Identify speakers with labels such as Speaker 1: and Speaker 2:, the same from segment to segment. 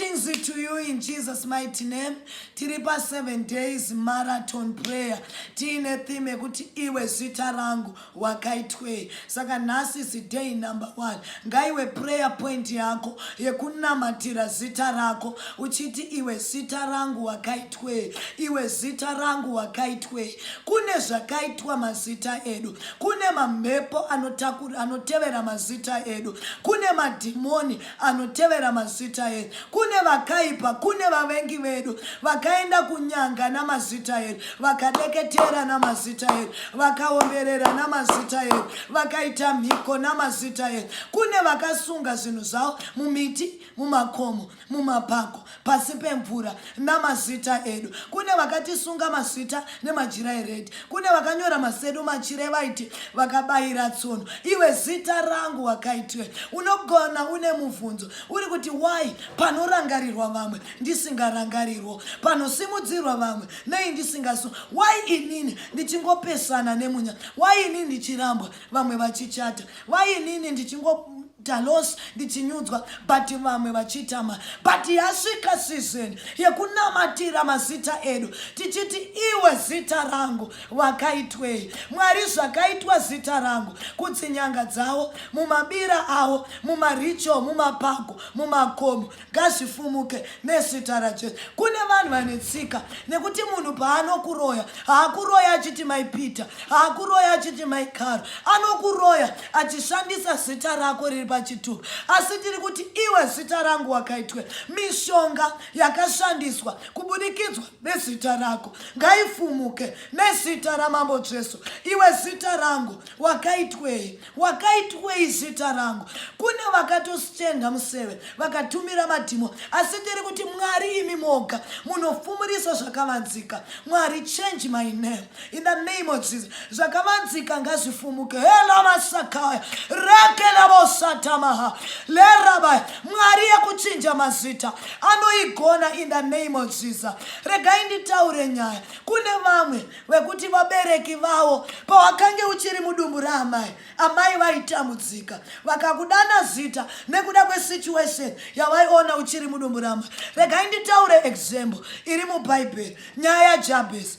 Speaker 1: Blessings to you in Jesus mighty name. Tiri pa 7 days marathon prayer. Tiine theme yekuti iwe zita rangu wakaitwei. Saka nhasi is day number 1. Ngaiwe prayer point yako yekunamatira zita rako uchiti iwe zita rangu wakaitwei. Iwe zita rangu wakaitwei. Kune zvakaitwa mazita edu. Kune mamhepo anotevera mazita edu. Kune madhimoni anotevera mazita edu kune vakaipa kune vavengi vedu vakaenda kunyanga namazita edu vakadeketera namazita edu vakaomberera namazita edu vakaita mhiko namazita edu kune vakasunga zvinhu zvavo mumiti mumakomo mumapako pasi pemvura namazita edu kune vakatisunga masvita nemajira eredhi kune vakanyora masedu machire vaiti vakabayira tsono iwe zita rangu wakaitiwe unogona une mubvunzo uri kuti why panorangarirwa vamwe ndisingarangarirwo panosimudzirwa vamwe nei ndisingasu why inini ndichingopesana nemunya why inini ndichirambwa vamwe vachichata why inini ndichingo Talos ndichinyudzwa but vamwe vachitama but yasvika season yekunamatira mazita edu tichiti iwe zita rangu wakaitwei mwari zvakaitwa zita rangu kutsinyanga dzawo mumabira awo mumaricho mumapako mumakomo ngazvifumuke nezita rajesu kune vanhu vane tsika nekuti munhu paanokuroya haakuroya achiti mai peter haakuroya achiti mai karo anokuroya achishandisa zita rako riri pachitubu asi tiri kuti iwe zita rangu wakaitwe mishonga yakashandiswa kubudikidzwa nezita rako ngaifumuke nezita ramambo jesu iwe zita rangu wakaitwei wakaitwei zita rangu kune vakatositenda museve vakatumira madhimo asi ndiri kuti mwari imi moga munofumurisa zvakavanzika mwari change my name in the name of jesus zvakavanzika ngazvifumuke helamasakaya rekelavosatamaha lerabaya mwari yekuchinja mazita anoigona in the name of jesus regai nditaure nyaya kune vamwe wekuti vabereki vawo pawakange uchiri mudumbu raamai amai vaitambudzika vakakudana zita nekuda kwesituation yavaiona uchiri mudumbu raamai regai nditaure example iri mubhaibheri nyaya yajabhesi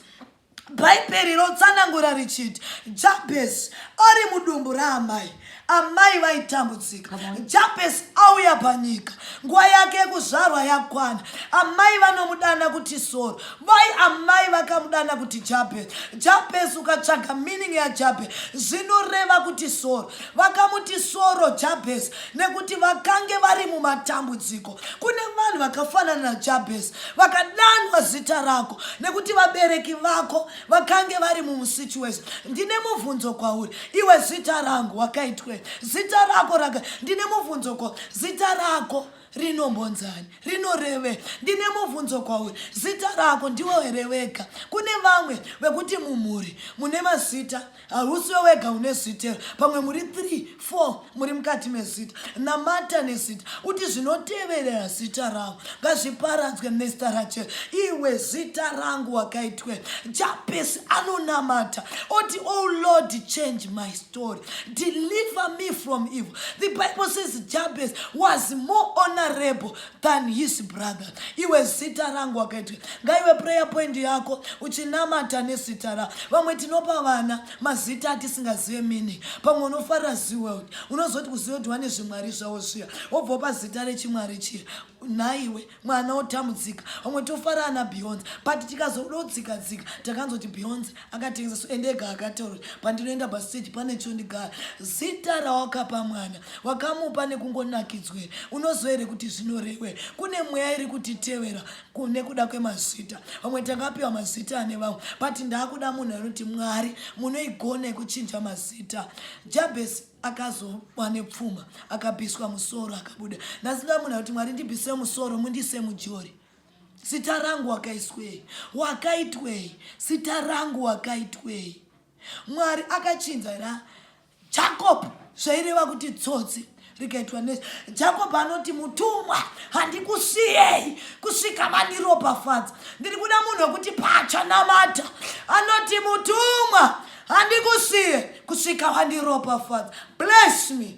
Speaker 1: bhaibheri rotsanangura richiti jabhesi ari mudumbu raamai amai vaitambudzika japesi auya panyika nguva yake yekuzvarwa yakwana amai vanomudana kuti soro vai amai vakamudana kuti japesi japesi ukatsvaga meaning yajapesi zvinoreva kuti soro vakamuti soro japesi nekuti vakange vari mumatambudziko kune vanhu vakafanana najapesi vakadanwa zita rako nekuti vabereki vako vakange vari mumusituation ndine mubvunzo kwauri iwe zita rangu wakaitwe zita rako raka ndine mubvunzo kwa zita rako rinombonzani rinoreve ndine mubvunzo kwauri zita rako ndiwo hereweka kune vamwe vekuti mumhuri mune mazita Hausiwe wega une zita pamwe muri 3 4 muri mukati mezita namata nezita uti zvinoteverera zita rangu ngazviparadzwe mr rachel iwe zita rangu wakaitwe japesi anonamata oti oh lord change my story deliver me from evil the bible says jabes was more honorable than his brother iwe zita rangu wakaitwe ngaiwe prayer point yako uchinamata nezita ra vamwe tinopa vana mazita atisingazive mini pamwe unofarira zeworld unozoti kuziva kuti wane zvimwari zvavo zviya wobvopa zita rechimwari chiya nhaiwe mwana otambudzika vamwe tofarana beyonce but tikazododzika dzika takanzoti beyonce akatengesa so ende ega akataura pandinoenda pastage pane chondigara zita rawakapa mwana wakamupa nekungonakidzwe unoziva here kuti zvinorewe kune mweya iri kutitevera kune kuda kwemazita vamwe tangapiwa mazita ane vamwe but ndaakuda munhu anoti mwari munoigona yekuchinja mazita jabhesi akazowa nepfuma akabhiswa musoro akabuda ndasida munhu akuti mwari ndibhise musoro mundise mujori Zita rangu wakaiswei? Wakaitwei? Zita rangu wakaitwei? Mwari akachinja here? Jacob zvaireva kuti tsotsi rikaitwa nezi. Jacob anoti mutumwa handikusiyei kusvika mandiropafadza. Ndiri kuda munhu wekuti pacha namata anoti mutumwa handikusiye kusvika wandiropafadza. Bless me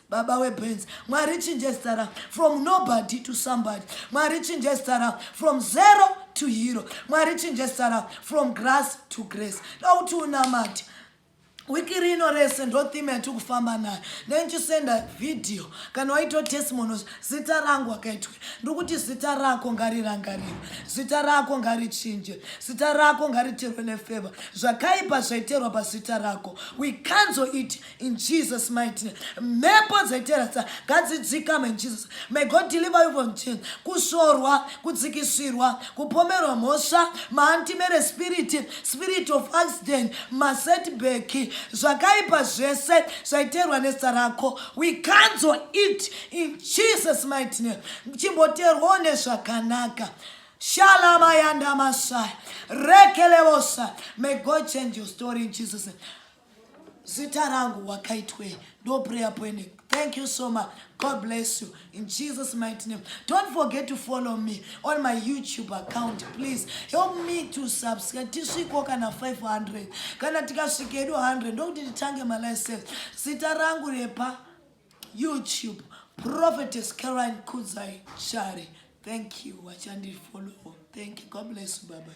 Speaker 1: baba webenzi mwari chinje zita ra from nobody to somebody mwari chinje zita ra from zero to hero mwari chinje zita ra from grass to grace dauti unamati wiki rino rese ndotheme yati kufamba nayo ndenichisenda vhidhiyo kana waitawo testimonos zita rangu akaitwe ndiri kuti zita rako ngarirangariro zita rako ngarichinje zita rako ngariterwe nefeva zvakaipa zvaiterwa pazita rako we canzel it in Jesus mighty name. Mhepo dzaiteradza ngadzidzikame in Jesus. May God deliver you from sin. Kushorwa, kudzikisirwa, kupomerwa mhosva, maantimere spirit, spirit of accident, masetback, zvakaipa zvese zvaiterwa nezita rako. We cancel it in Jesus mighty name. Chimboterwawo nezvakanaka. Shalama yanda masai. Rekelevosa. May God change your story in Jesus name. zita rangu wakaitwei ndo prayer point thank you so much god bless you in jesus mighty name don't forget to follow me on my youtube account please help me to subscribe tisviko kana 500 kana tikasvika edu 100 ndokuti titange malicense zita rangu repa youtube prophetess caroline kudzai shari thank you wachandifollow thank you god bless you babai